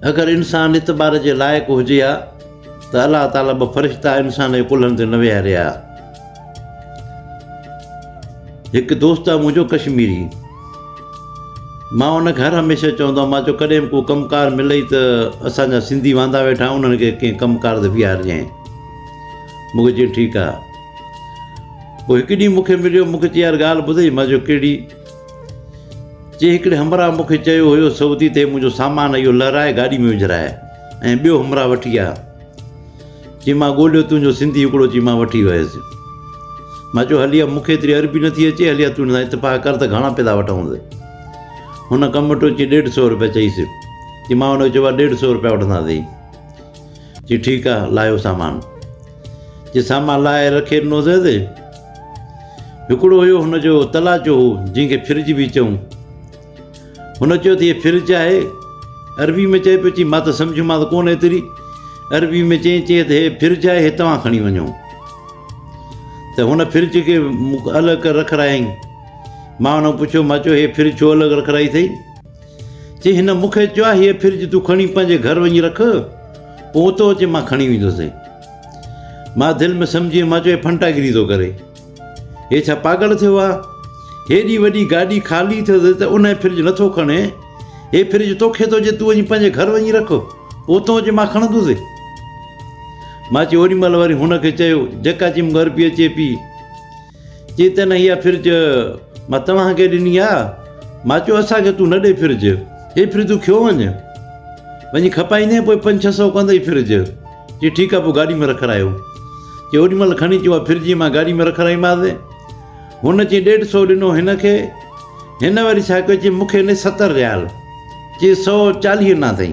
اگر انسان اعتبار جي لائق هجي ها ته الله تعاليٰ ٻه فرشتا انسان جي ڪلهن تي نه ويهاري ها. هڪ دوست آهي منهنجو ڪشميري. مان ان کي هر هميشه چوندو آهيان مان چيو ڪڏهن به ڪو ڪم ڪار ملئي ته اسان جا سنڌي واندا ويٺا آهن انهن کي ڪنهن ڪم ڪار تي بيهارجانء. مون کي چيائين ٺيڪ آهي. پوء هڪ ڏينهن مون کي مليو مون کي چيائين يار ڳالهه ٻڌئي مان چيو ڪهڙي؟ جي هڪڙي همراهه مون کي چيو هيو سعودي تي منهنجو سامان اهو لهرائي گاڏي ۾ وجهرائي ۽ ٻيو همراهه وٺي آ چي مان ڳولهيو تنهنجو سنڌي هڪڙو چي مان وٺي ويس مان چيو هلي آ مون کي ايتري عربي نه ٿي اچي هلي آ تون اتفاق ڪر ته گهڻا پيدا وٺونس هن ڪم وٽو چي ڏيڍ سو روپيا چئيس چي مان هن کي چيو آ ڏيڍ سو روپيا وٺنداسين چي ٺيڪ آ لاهيو سامان جي سامان لاهي رکي ڏنو سيس. هڪڙو هيو هن جو تلاچو هو جنهن کي فرج به چئون. هن چيو ته هيء فرج آهي. عربي ۾ چئي پيو چي مان ته سمجهيومانس ڪونه ايتري. عربي ۾ چئين چئين ته هيء فرج آهي هي توهان کڻي وڃو. ته هن فرج کي الڳ ڪري رکرايائين. مان هن کان پڇيو مان چيو هيء فرج ڇو الڳ رکرائي اٿئي؟ چي هن مون کي چيو آهي هيء فرج تون کڻي پنهنجي گهر وڃي رک، پوء اتو اچي مان کڻي ويندوسين. مان دل ۾ سمجهي مان چيو هي ڦنٽاگيري ٿو ڪري. هي ڇا پاڳل ٿيو آهي؟ هيڏي وڏي گاڏي خالي اٿس ته ان هي فرج نٿو کڻي. هي فرج توکي ٿو چي تون اچي پنهنجي گهر وڃي رک، پوء اتو اچي مان کڻندوسين. مان چيو اوڏي مهل وري هن کي چيو جيڪا چيم گهر پئي اچي پي. چي ته نه اها فرج مان توهان کي ڏني آ. مان چيو اسان کي تون نه ڏي فرج. اي فرج تون کيو وڃ. وڃي کپائيندين پوء پنج ڇهه سئو ڪندئي فرج. چي ٺيڪ آ پوء گاڏي ۾ رکرايو. چي اوڏي مهل کڻي چي اها فرج مان گاڏي ۾ رکرائيمانس. هن چي ڏيڍ سئو ڏنو هن کي. هن وري ڇا ڪيو چي مون کي ڏي ستر ريال. چي سئو چاليهه انا اٿئي.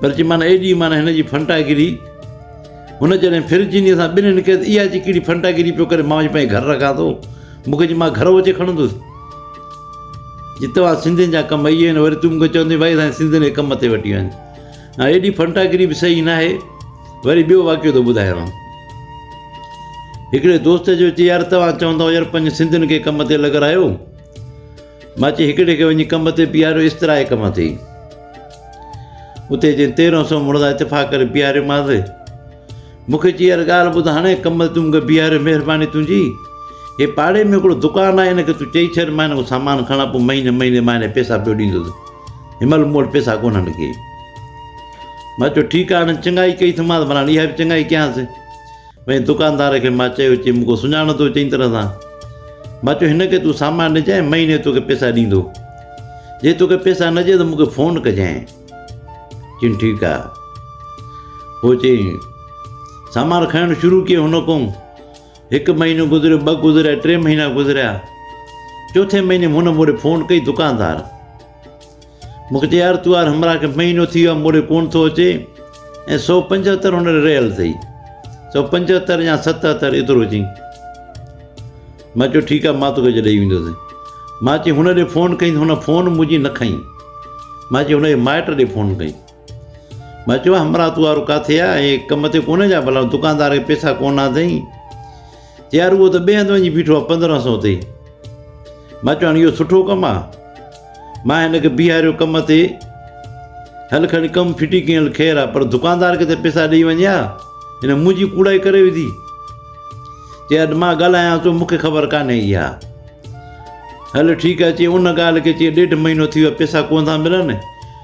پر چي معنيٰ ايڏي معنيٰ هن جي ڦنٽاگيري هن جڏهن ڦر چينيء سان ٻنهين ڪيس ته اها چي ڪهڙي ڦنٽاگيري پيو ڪري مان چي پنهنجي گهر رکان ٿو مون کي چي مان گهرو اچي کڻندس چي توهان سنڌين جا ڪم اهي آهن وري تون مون کي چوندين ڀائي اسان سنڌين کي ڪم تي وٺي وڃ هاڻي ايڏي ڦنٽاگيري به صحيح نه آهي وري ٻيو واقعو ٿو ٻڌايانو هڪڙي دوست جو چي يار توهان چوندو يار پنهنجي سنڌين کي ڪم تي لڳرايو مان چيو هڪڙي کي وڃي ڪم تي بيهاريو استراحي ڪم تي ئي اتي جنهن تيرهن سو مڙدا اتفاق ڪري بيهاريومانس مون کي چي يار ڳالهه ٻڌ هاڻي ڪم تي تون مون کي بيهاريو مهرباني تنهنجي هي پاڙي ۾ هڪڙو دڪان آهي هن کي تون چئي ڇڏ مان هن کان سامان کڻان پوء مهيني مهيني مان هنکي پيسا پيو ڏيندس هن مهل مون وٽ پيسا ڪونهن ڪي مان چيو ٺيڪ آهي هنن چڱائي ڪئي ٿيمانس ڀلا هاڻي اها به چڱائي ڪيانس ۾ دڪاندار کي مان چيو چي مون کي سڃاڻو ٿو چڱي طرح سان مان چيو هن کي تون سامان ڏجانء مهيني توکي پيسا ڏيندو جي توکي پيسا نه ڏي ته مون کي فون ڪجانء چيم ٺيڪ آ پوء چيم سامان کڻڻ شروع ڪيو هن ڪوم هڪ مهينو گذريو ٻه گذريا ٽي مهينا گذريا چوٿين مهيني هن مون ڏي فون ڪئي دڪاندار مونکي چيائين يار تون يار همراهه کي مهينو ٿي ويو موڙي ڪونه ٿو اچي ۽ سؤ پنجهتر هن ڏي رهيل اٿئي سؤ پنجهتر يا ستهتر ايترو چئي مان چيو ٺيڪ آهي مان توکي ڏئي ويندوسين مان چيو هن ڏي فون ڪئي هن فون منهنجي نه کنئي مان چيو هن جي مائٽ ڏي فون ڪئي مون چيو، همراهه تون وارو ڪاٿي آ؟ اهي ڪم تي ڪونه جا ڀلا دڪاندار کي پيسا ڪونه آتئين؟ چي يار اهو ته ٻئي هنڌ وڃي بيٺو آ پندرهن سئو تي. مون چيو هاڻي اهو سٺو ڪم آ؟ مان هن کي بيهاريو ڪم تي، هل کڻي ڪم ڦٽي ڪيئن هل خير آ پر دڪاندار کي ته پيسا ڏئي وڃ ها، هن منهنجي ڪوڙائي ڪري وڌي. چي اڄ مان ڳالهايانس ٿو مون کي خبر ڪانهي اها. هل ٺيڪ آ چي ان ڳالهه کي چي ڏيڍ مهينو ٿي ويو آ پيسا ڪونه ٿا ملن،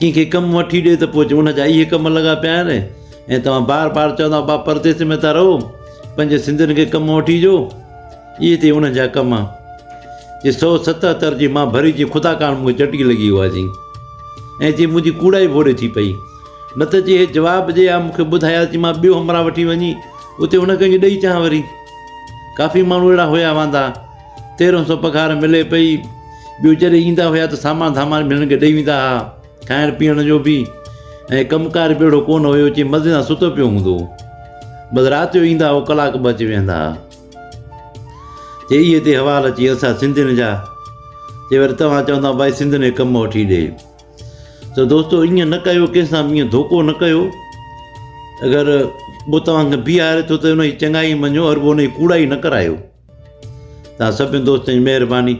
ڪنهن کي ڪم وٺي ڏي ته پوء چئي ان جا اهي ڪم لڳا پيا آهن ۽ توهان بار بار چوندو آهي ٻا پرديس ۾ ٿا رهو پنهنجي سنڌين کي ڪم وٺي ڏيو اهي تي ان جا ڪم جي سو ستهتر جي مان ڀري جي خدا ڪاڻ مون کي چٽڪي لڳي هئا جي ۽ جي منهنجي ڪوڙائي ڀوڙي ٿي پئي نه ته جي هي جواب ڏي ها مون کي ٻڌايا جي مان ٻيو همراهه وٺي وڃي اتي هن کي ڏئي چان وري ڪافي ماڻهو اهڙا هيا واندا تيرهن سو پگهار ملي پئي. ٻيو جڏهن ايندا هيا ته سامان ڌامان به هنن کي ڏئي ويندا ها. کائڻ پيئڻ جو به ۽ ڪم ڪار به اهڙو ڪونه هيو چي مزي سان ستو پيو هوندو هو. بس رات جو ايندا هو ڪلاڪ ٻه اچي ويهندا ها. چي اهي تي حوال اچي اسان سنڌين جا چي وري توهان چوندا ڀائي سنڌين کي ڪم وٺي ڏي. ته دوستو ايئن نه ڪيو ڪنهن سان به ايئن ڌوڪو نه ڪيو. اگر ڪو توهان کي بيهاري ٿو ته ان جي چڱائي مڃيو ورپو ان جي ڪوڙائي نه ڪرايو. توهان سڀني دوستن جي مهرباني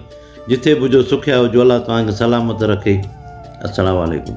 جتي به هجو سکيا هجو الله توهان کي سلامت رکي السلام عليڪم.